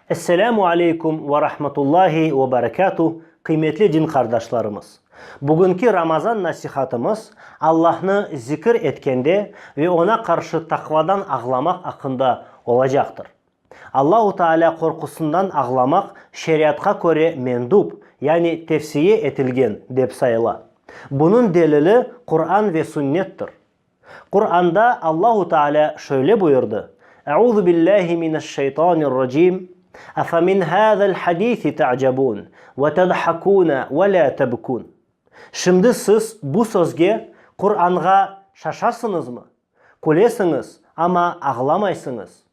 Esselamu aleykum ve rahmetullahi ve berekatuh, qıymetli din qardaşlarımız! Bugünki Ramazan nasihatımız Allahnı zikir etkende ve Oña qarşı taqvadan ağlamaq aqqında olacaqtır. Allahu Taalâ qorqusından ağlamaq şeriatqa köre mendub, yani tevsiye etilgen, dep sayıla. Bunıñ delili Quran ve Sünnettir. Quranda Allahu Taalâ şöyle buyurdı, Euzu billâhi mineşşeytanirracim, Efamin hâzel hadisi te'cebun ve tedhakun ve lâ tebkun. Şimdi siz bu sözge, Quranğa, şaşasıñızmı? Külesiñiz, amma ağlamaysıñız.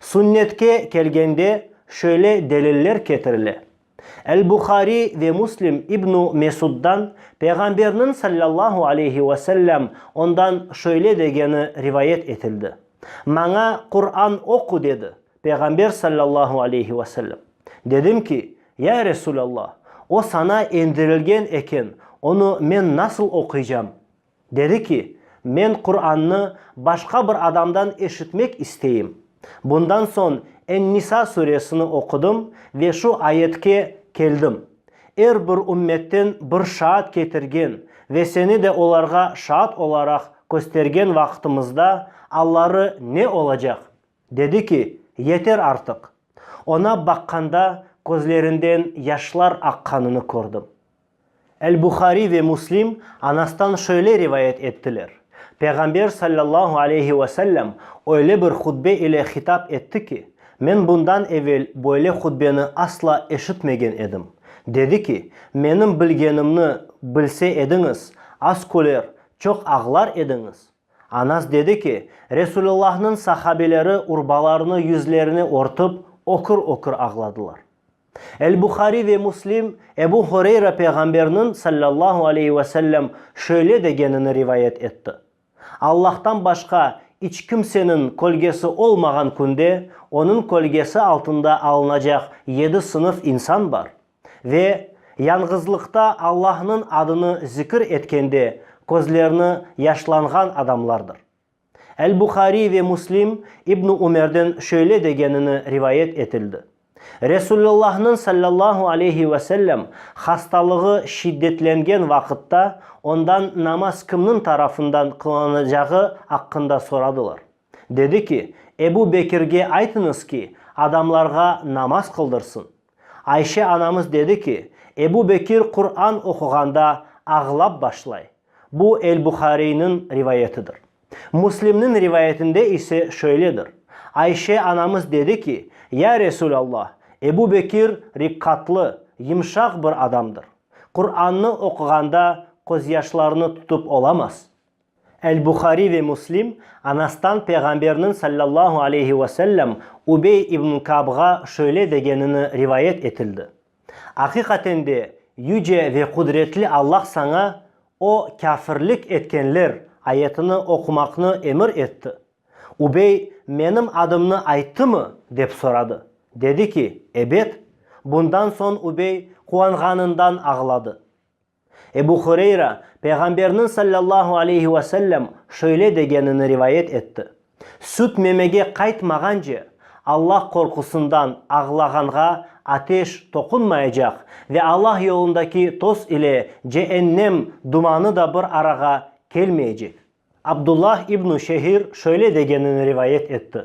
Sünnetke kelgende, şöyle deliller ketirile, El-Buhariy ve Müslim İbn-i Mesuddan, Peyğamberniñ sallallahu aleyhi ve sellem ondan şöyle degeni rivayet etildi, Maña Quran oqu dedi, Peyğamber sallallahu aleyhi ve sellem. Dedim ki, Ya Resul Allah, o saña endirilgen eken, onı men nasıl oquycam? Dedi ki, Men Qurannı başqa bir adamdan eşitmek isteyim. Bundan soñ En-Nisa suresini oqudım ve şu ayetke keldim, Er bir ümmetten bir şaat ketirgen ve seni de olarğa şaat olaraq köstergen vaqıtımızda alları ne olacaq? Dedi ki, Yeter artıq! Oña baqqanda közlerinden yaşlar aqqanını kördim. El-Buhariy ve Muslim Anastan şöyle rivayet ettiler, Peyğamber sallallahu aleyhi ve sellem öyle bir hutbe ile hitap etti ki, men bundan evel böyle hutbeni asla eşitmegen edim. Dedi ki, menim bilgenimni bilse ediñiz, az küler, çoq ağlar ediñiz. Anas dedi ki, Resulullahnıñ sahabeleri urbalarını yüzlerini örtip, ökür-ökür ağladılar. El-Buhariy ve Muslim Ebu Hureyra Peyğamberniñ, sallallahu aleyhi ve sellem, şöyle degenini rivayet etti, Allahtan başqa iç kimseniñ kölgesi olmağan künde onıñ kölgesi altında alınacaq yedi sınıf insan bar, ve, yañğızlıqta Allahnıñ adını zikir etkende közlerini yaşlanğan adamlardır. El-Buhariy ve Muslim İbn-i Ümerden şöyle degenini rivayet etildi, Resulullahnıñ sallallahu aleyhi ve sellem hastalığı şiddetlengen vaqıtta ondan namaz kimniñ tarafından qılanacağı aqqında soradılar. Dedi ki, Ebu Bekirge aytıñız ki, adamlarğa namaz qıldırsın. Ayşe anamız dedi ki, Ebu Bekir Quran oquğanda ağlap başlay. Bu El-Buhariyniñ rivayetidir. Muslimniñ rivayetinde ise şöyledir, Ayşe anamız dedi ki, Ya Resûlallah, Ebu Bekir riqqatlı, yımşaq bir adamdır. Qurannı oquğanda qozyaşlarını tutıp olamaz. El-Buhariy ve Muslim, Anastan Peyğamberniñ sallallahu aleyhi ve sellem Ubey ibn Kabğa şöyle degenini rivayet etildi, Aqiqaten de, Yüce ve Qudretli Allah saña, O, kâfirlik etkenler, ayetini oqumaqnı emir etti. Ubey, Menim adımnı ayttımı? dep soradı. Dedi ki, Ebet. Bundan soñ Ubey quvanğanından ağladı. Ebu Hureyra, Peyğamberniñ sallallahu aleyhi ve sellem şöyle degenini rivayet etti, Süt memege qaytmağance, Alla qorqusından ağlağanğa ateş toqunmayacaq ve Alla yolundaki toz ile ceennem dumanı da bir arağa kelmeyecek. Abdullah ibn Şehir şöyle degenini rivayet etti,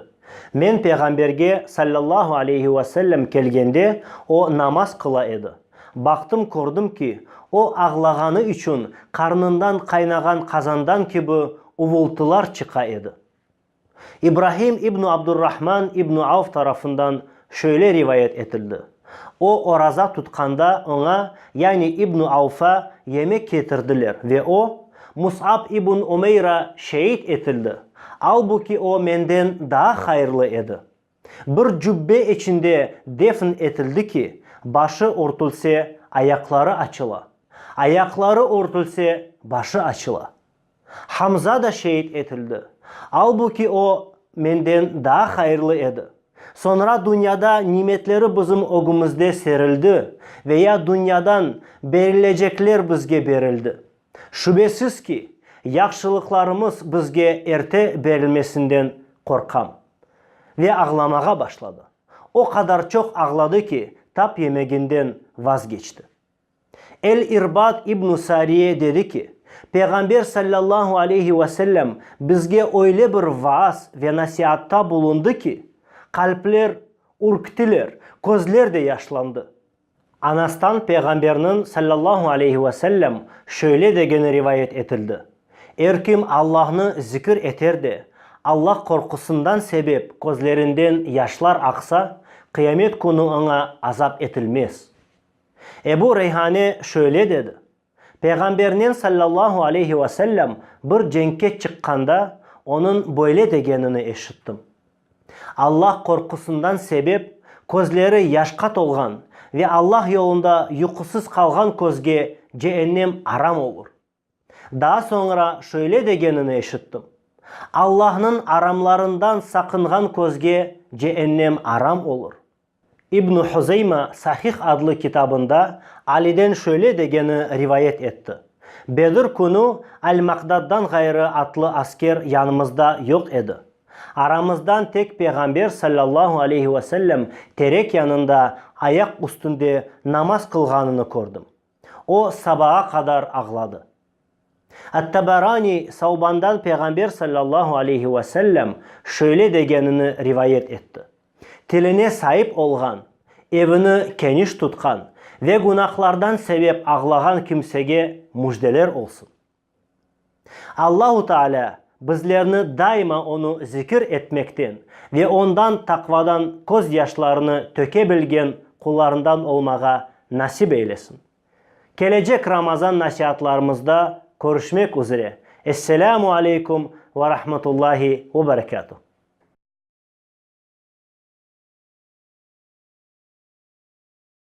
Men Peyğamberge, sallallahu aleyhi ve sellem, kelgende, o namaz qıla edi. Baqtım, kördim ki, o ağlağanı içün qarnından qaynağan qazandan kibi uvultılar çıqa edi. İbrahim ibn Abdur-Rahman ibn Avf tarafından şöyle rivayet etildi, O oraza tutqanda oña, yani ibn Avfa, yemek ketirdiler ve o, Mus'ab ibn Umeyra, şeid etildi, albuki o menden daa hayırlı edi. Bir cübbe içinde defn etildi ki, başı örtülse, ayaqları açıla, ayaqları örtülse, başı açıla. Hamza da şeid etildi. Albu ki, o, menden daa hayırlı edi. Soñra dünyada nimetleri bizim ögümizde serildi, veya dünyadan berilecekler bizge berildi. Şübesiz ki, yahşılıqlarımız bizge erte berilmesinden qorqam. Ve ağlamağa başladı. O qadar çoq ağladı ki, tap yemeginden vazgeçti. El-İrbad ibn-i Sariye dedi ki, Peyğamber sallallahu aleyhi ve sellem bizge öyle bir vaaz ve nasiatta bulundı ki, qalpler ürktiler, közler de yaşlandı. Anastan Peyğamberniñ, sallallahu aleyhi ve sellem, şöyle degeni rivayet etildi, Er kim Allahnı zikir eter de, Allah qorqusından sebep közlerinden yaşlar aqsa, Qıyamet künü oña azap etilmez. Ebu Reyhane şöyle dedi, Peyğambernen sallallahu aleyhi ve sellem bir cenkke çıqqanda onıñ böyle degenini eşittim, Allah qorqusından sebep közleri yaşqa tolğan ve Allah yolunda yuqusız qalğan közge ceennem aram olur. Daa soñra şöyle degenini eşittim, Allahnıñ aramlarından saqınğan közge ceennem aram olur. İbn Huzeyma Sahih adlı kitabında Aliden şöyle degeni rivayet etti, Bedr künü Al-Maqdaddan ğayrı atlı asker yanımızda yoq edi. Aramızdan tek Peyğamber sallallahu aleyhi ve sellem terek yanında ayaq üstünde namaz qılğanını kördim. O, sabağa qadar ağladı. At-Tabaraniy Savbandan Peyğamber sallallahu aleyhi ve sellem şöyle degenini rivayet etti, Tiline saip olğan, evini keniş tutqan ve günahlardan sebep ağlağan kimsege müjdeler olsun! Allahu Taalâ bizlerni daima onı zikir etmekten ve ondan taqvadan köz yaşlarını töke bilgen qullarından olmağa nasip eylesin. Kelecek Ramazan nasiatlarımızda körüşmek üzre. Esselâmu aleykum ve rahmetullahi ve berekâtuh.